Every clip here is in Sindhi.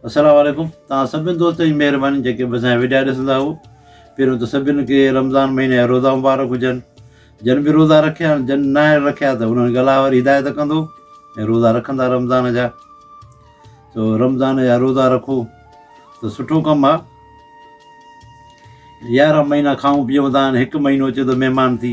السلام عليڪم توهان سڀني دوستن جي مهرباني جيڪي به اسانجا وڊيا ڏسندا هئو پهريون ته سڀني کي رمضان مهيني جا روزا مبارڪ هجن جن به روزا رکيا آهن جن ناهن رکيا ته انهن کي الله وري هدايت ڪندو ۽ روزا رکندا رمضان جا سو رمضان جا روزا رکو ته سٺو ڪم آهي يارهن مهينا کائون پيئون ٿا هاڻي هڪ مهينو اچي ٿو مهمان ٿي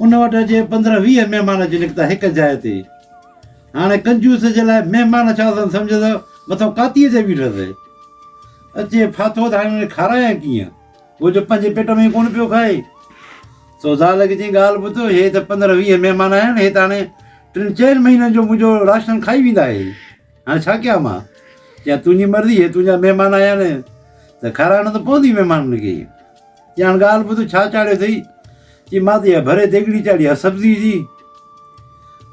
ان وٽ اڄ پندرهن ويهه مهمان اچي نڪتا هڪ جاء تي. هاڻي ڪنجوس جي لاء مهمان ڇا سن سمجهه ته مٿو ڪاتيء تي بيٺس. اچي ڦاٿو ته هاڻي هن کي کارايان ڪيئن؟ هو جو پنهنجي پيٽ ۾ ئي ڪونه پيو کائي. سو زال کي چيائين ڳالهه ٻڌ، هي ته پندرهن ويهه مهمان آيا آهن، هي ته هاڻي ٽن چئن مهينن جو منهنجو راشن کائي ويندا اهي. هاڻي ڇا ڪيان مان؟ چيائين تنهنجي مرضي، هي تنهنجا مهمان آيا آهن ته کارائڻو ته پوندو ئي مهمانن کي. ڄاڻ ڳالهه ٻڌ ڇا چاڙهيو اٿئي؟ چي مان ته اها ڀري ديڳڙي چاڙهي آهي سبزيء جي.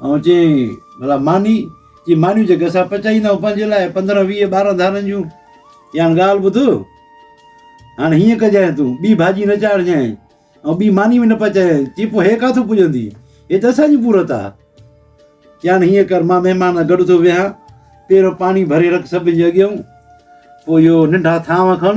آئون چيائين ڀلا ماني؟ چي مانيون جيڪي اسان پچائيندا آهيون پنهنجي لاء پندرهن ويهه ٻارهن ڌارن جون. ڄاڻ ڳالهه ٻڌ هاڻي هيئن ڪجانء تون ٻي ڀاڄي نه چاڙهجانء ۽ ٻي ماني به نه پچائي. چي پوء هيء ڪاٿو پڄندي؟ هيء ته اسان جي پورت آهي. ڄاڻ هيئن ڪر مان مهمان سان گڏ ٿو ويهان پهريون پاڻي ڀري رک سڀني جي اڳيئون پوء اهو ننڍا ٿانو کڻ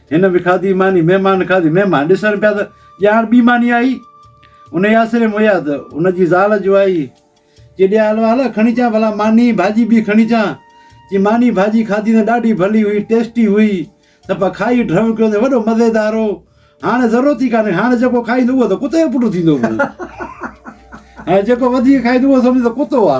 هن به کاڌي ماني، مهمان کاڌي مهمان ڏسڻ پيا ته ڄاڻ ٻي ماني آئي، انهيء آسري ۾ ويا ته ان جي زال جو آئي، چي ڏي آ حلوا هل کڻي چا ڀلا ماني ڀاڄي ٻي کڻي چا، چي ماني ڀاڄي کاڌي ته ڏاڍي ڀلي هئي، ٽيسٽي هئي، سڀ کائي ڍرو ڪيو ته وڏو مزيدار هو، هاڻ ضرورت ئي ڪانهي، هاڻ جيڪو کائيندو اهو ته ڪتي جو پٽ ٿيندو پوء، هاڻ جيڪو وڌيڪ کائيندو اهو سمجهندو ڪتو آ.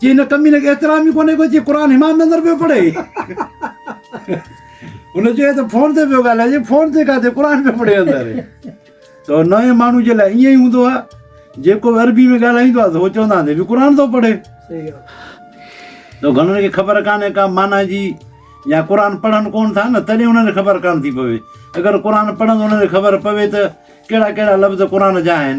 چي هن ڪميني کي احترام ئي ڪونهي ڪو چي قرآن همام نظر پيو پڙهي هن چيو ته فون تي پيو ڳالهائجي فون تي ڪاٿي قرآن پيو پڙهي اندر تو نئين ماڻهو جي لاء ائين ئي هوندو آ جيڪو به عربي ۾ ڳالهائيندو آ تو چوندا آهن به قرآن ٿو پڙهي صحيح آ تو گهڻن کي خبر ڪانهي ڪا معنيٰ جي يا قرآن پڙهن ڪون ٿا نه تڏهن انهن کي خبر ڪانه ٿي پوي اگر قرآن پڙهن انهن کي خبر پوي ته ڪهڙا ڪهڙا لفظ قرآن جا آهن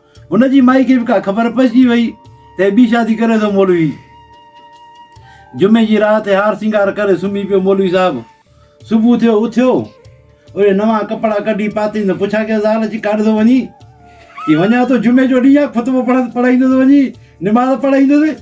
هن جي مائي کي به ڪا خبر پئجي وئي ته هي ٻي شادي ڪري ٿو مولوي. جمعي جي رات هي هار سينگار ڪري سمهي پيو مولوي صاحب صبح ٿيو اٿيو اهي نوان ڪپڙا ڪڍي پاتئين ته پڇا ڪيس زال اچي ڪاڏ ٿو وڃين؟ چي وڃان ٿو جمعي جو ڏينهن آهي خطبو پڙهندس پڙهائيندس وڃي نماز پڙهائيندس.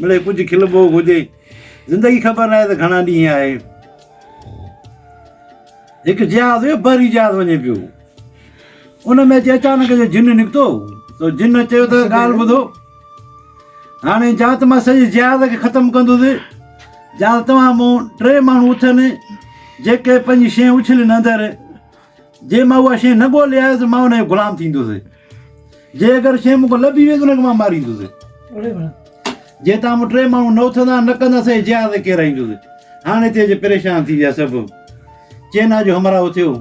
مڙئي ڪجهه کلبو گهجي. زندگي خبر ناهي ته گهڻا ڏينهن آهي. هڪ جهاز هيو بحري جهاز وڃي پيو ان ۾ اچي اچانڪ جو جن نڪتو تو جن چيو ته ڳالهه ٻڌو هاڻي جا ته مان سڄي جهاز کي ختم ڪندس جا توهان مون ٽي ماڻهو اٿن جيڪي پنهنجي شين اڇلين اندر جي مان اها شيء نه ڳولي آيس مان ان جو غلام ٿيندس جي اگر شيء مون کان لڀي ويس ان کي مان ماريندس جي تان مون ٽي ماڻهو نه اٿندا نه ڪندا سي جهاز کي رهيندس هاڻي هتي اچي پريشان ٿي ويا سڀ چينا جو همراهو ٿيو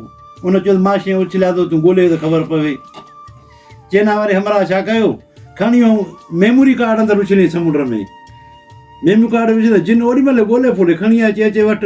ان چيو مان شيء اڇليا ٿو تون ڳولي ته خبر پوي چينا واري همراهه ڇا ڪيو کڻي هو ميموري ڪارڊ اندر اڇلي سمنڊ ۾ ميموري ڪارڊ وجهي جن اوڏي مهل ڳولي ڦولي کڻي اچي اچي وٽ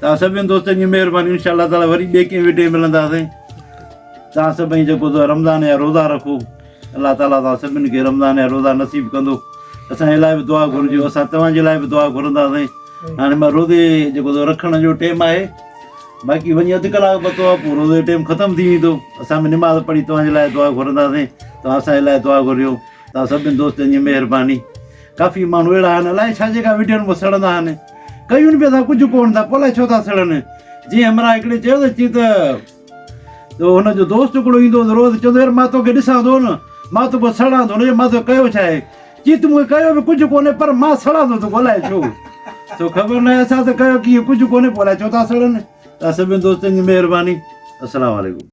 توهان سڀني دوستن جي مهرباني انشاء الله تعالٰي وري ٻي ڪنهن وڊيو ملنداسين توهان سڀئي جيڪو تو رمضان يا روزا رکو الله تعالٰي توهان سڀني کي رمضان يا روزا نصيب ڪندو اسان لاء به دعا گهرجو اسان توهان جي لاء به دعا گهرنداسين هاڻي مان روزي جيڪو تو رکڻ جو ٽيم آهي باقي وڃي اڌ ڪلاڪ پتو آهي پوء روزي جو ٽيم ختم ٿي ويندو اسان به نماز پڙهي توهان جي لاء دعا گهرنداسين توهان اسان جي لاء دعا گهرجو توهان سڀني دوستن جي مهرباني ڪافي ماڻهو اهڙا آهن الائي ڇا جيڪا وڊيون ۾ سڙندا آهن ڪيون به اسان ڪجهه ڪون ٿا پوء الائي ڇو ٿا سڙن جي همراهه هڪڙي چيو ته چي ته تو هن جو دوست هڪڙو ايندو هو روز چوندو يار مان توکي ڏسان ٿو نه مان توکي سڙان ٿو نه مان توکي ڪيو ڇا آهي چي تو مونکي ڪيو به ڪجهه ڪونهي پر مان سڙان ٿو توکي الائي ڇو سو خبر ناهي اسان ته ڪيو ڪيئن ڪجهه ڪونهي پوء الائي ڇو ٿا سڙن سڀني دوستن جي مهرباني السلام عليڪم